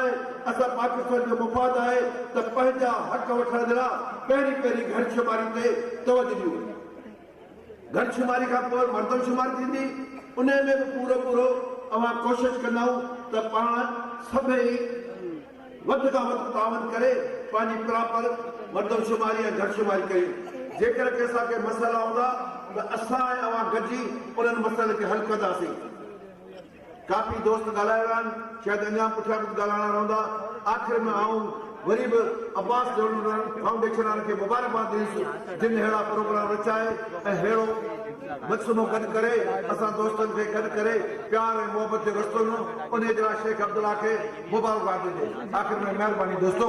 آهي، اسان پاڪستان جو مفاد آهي ته پنهنجا حق وٺڻ جي لاء پهرين پهرين گهر شماري تي توجه ڏيون، گهر شماري کان پوء مردم شمار ٿيندي، انهي ۾ به پورو پورو اوهان ڪوشش ڪندائون ته پاڻ سڀئي وڌ کان وڌ تعاون ڪري پنهنجي پراپر مردم شماري ۽ گهر شماري ڪريون، جيڪر ڪي اسان کي مسئلا هوندا ته اسان ۽ اوهان گڏجي انهن مسئلن کي حل ڪنداسين. ڪافي دوست ڳالهايا ويا آهن، شايد اڃا پٺيان به ڳالهائڻا رهندا. آخر ۾ آئون وري به عباس جهلوڻيان فائونڊيشن وارن کي مبارڪباد ڏينس جن اهڙا پروگرام رچائي ۽ اهڙو مجسمو گڏ ڪري اسان دوستن کي گڏ ڪري پيار ۽ محبت جو رستو ڏنو انهي جي لاء شيخ عبدالله کي مبارڪباد ڏجي آخر ۾ مهرباني دوستو.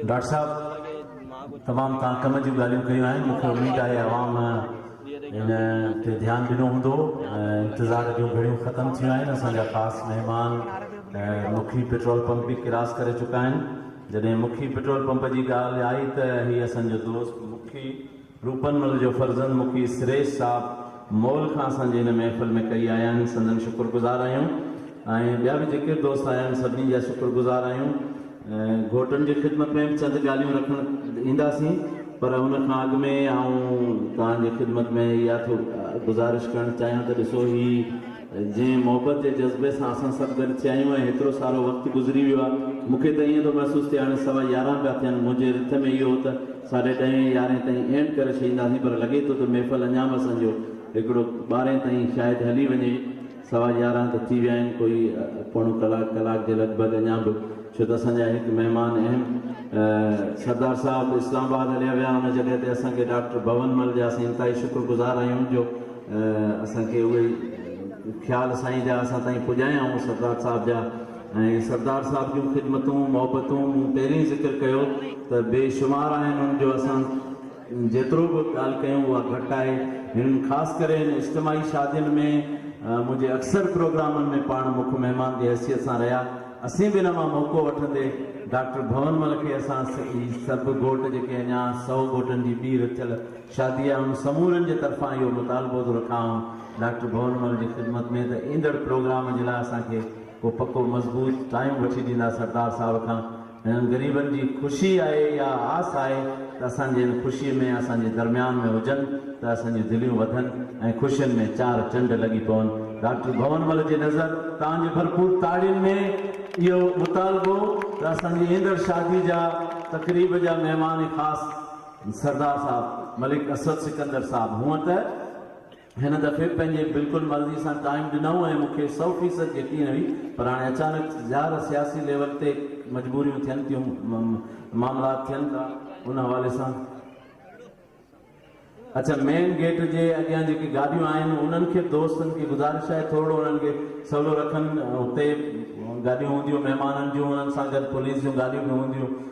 ڊاڪٽر صاحب تمام تان ڪم جون ڳالهيون ڪيون آهن مونکي اميد آهي عوام ان تي ڌيان ڏنو هوندو انتظار جون گهڙيون ختم ٿيون آهن اسان جا خاص مهمان مکي پيٽرول پمپ به ڪراس ڪري چڪا آهن جڏهن مکي پيٽرول پمپ جي ڳالهه آئي ته هي اسان جو دوست مکي روپن مل جو فرزند مکي سريش صاحب مول کان اسان جي هن محفل ۾ ڪئي آيا آهن سندن شڪر گذار آهيون ۽ ٻيا به جيڪي به دوست آيا آهن سڀني جا شڪر گذار آهيون گهوٽن جي خدمت ۾ به چند ڳالهيون رکڻ اينداسين پر ان کان اڳ ۾ آئون توهان جي خدمت ۾ اها ٿو گذارش ڪرڻ چاهيان ته ڏسو هي جنهن محبت جي جذبي سان اسان سڀ گڏ ٿيا آهيون ۽ هيترو سارو وقت گذري ويو آهي مون کي ته ائين ٿو محسوس ٿئي هاڻي سوا يارهن پيا ٿين منهنجي رٿ ۾ اهو هو ته ساڍي ڏهين يارهين تائين اينڊ ڪري ڇڏينداسين پر لڳي ٿو ته محفل اڃا به اسان جو هڪڙو ٻارهين تائين شايد هلي وڃي سوا يارهن ته ٿي ويا آهن ڪوئي پوڻو ڪلاڪ ڪلاڪ جي لڳ ڀڳ اڃا به ڇو ته اسان جا هڪ مهمان اهم سردار صاحب اسلام آباد هليا ويا ان جڳهه تي اسان کي ڊاڪٽر ڀون مل جا اسين انتهائي شڪر گذار آهيون جو اسان کي اهي خيال سائين جا اسان تائين پڄايائون سردار صاحب جا ۽ سردار صاحب جون خدمتون محبتون مون پهرين ذڪر ڪيو ته بي شمار آهن ان جو اسان جيترو به ڳالهه ڪيون اها گهٽ آهي. هنن خاص ڪري هن اجتماعي شادين ۾ منهنجي اڪثر پروگرامن ۾ پاڻ مک مهمان جي حيثيت سان رهيا. اسين به ان مان موقعو وٺندي ڊاڪٽر ڀونمل کي اسان هي سڀ گهوٽ جيڪي اڃا سؤ گهوٽن جي ٻي رٿيل شادي آهي ان سمورن جي طرفان اهو مطالبو ٿو رکان ڊاڪٽر ڀونمل جي خدمت ۾ ته ايندڙ پروگرام جي لاء اسان کي ڪو پڪو مضبوط ٽائيم وٺي ڏيندا سردار صاحب کان هنن غريبن جي خوشي آهي اها آس آهي ته اسان جي هن خوشي ۾ اسان جي درميان ۾ هجن ته اسان جون دليون وڌن ۽ خوشين ۾ چار چنڊ لڳي پون. ڊاڪٽر ڀون مل جي نظر تان جي ڀرپور تاڙين ۾ اهو مطالبو ته اسان جي ايندڙ شادي جا تقريب جا مهمان خاص سردار صاحب ملڪ اسد سڪندر صاحب هونئن ته هن دفعي پنهنجي بلڪل مرضي سان قائم ڏنائون ۽ مون کي سؤ فيصد يقين هئي پر هاڻي اچانڪ ظاهر سياسي ليول تي مجبوريون ٿين ٿيون معاملات ٿين ٿا ان حوالي سان اڇا مين گيٽ جي اڳيان جيڪي گاڏيون آهن انهن کي دوستن کي گذارش آهي ٿورڙو انهن کي سولو رکن اتي گاڏيون هونديون مهمانن جون انهن سان گڏ پوليس جون گاڏيون به هونديون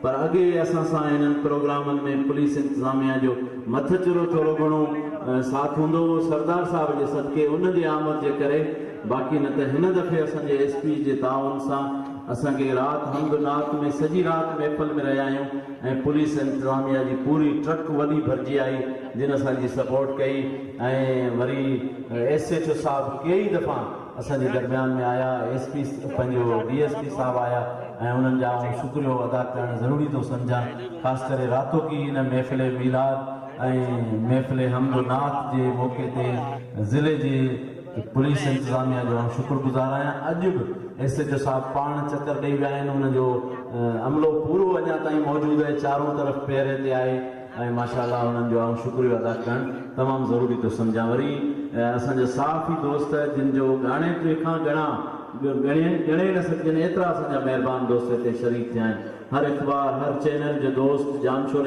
پر اڳي اسان سان انهن پروگرامن ۾ پوليس انتظاميا جو مٿچرو ٿورو گهڻو ساٿ هوندو هو سردار صاحب جي صدقي ان جي آمد جي ڪري باقي نه ته هن دفعي اسان جي ايس پي جي تعاون سان اسان کي رات حمد نعت ۾ سڄي رات محفل ۾ رهيايون ۽ پوليس انتظاميا جي پوري ٽرڪ وڏي ڀرجي آئي جن اسان جي سپورٽ ڪئي ۽ وري ايس ايڇ او صاحب ڪيئي دفعا اسان جي درميان ۾ آيا ايس پي پنهنجو ڊي ايس پي صاحب آيا ۽ انهن جا آئون شڪريو ادا ڪرڻ ضروري ٿو سمجهان خاص ڪري راتوڪي ان محفل ميلاد ۽ محفل حمد و نعت جي موقعي تي ضلعي جي پوليس انتظاميه جو آئون شڪر گذار آهيان اڄ به ايس ايچ او صاحب پاڻ چڪر ڏئي ويا آهن ان جو عملو پورو اڃا تائين موجود آهي چارون طرف پهري تي آهي. ۽ ماشاء الله انهن جو آئون شڪريو ادا ڪرڻ تمام ضروري ٿو سمجهان وري اسان جا صحافي دوست جن جو ڳاڻيتري کان ڳڻا ڳڻي ڳڻي نه سگهجن ايترا اسان جا مهربان دوست هتي شريڪ ٿيا آهن هر اخبار هر چينل جو دوست ڄامشوري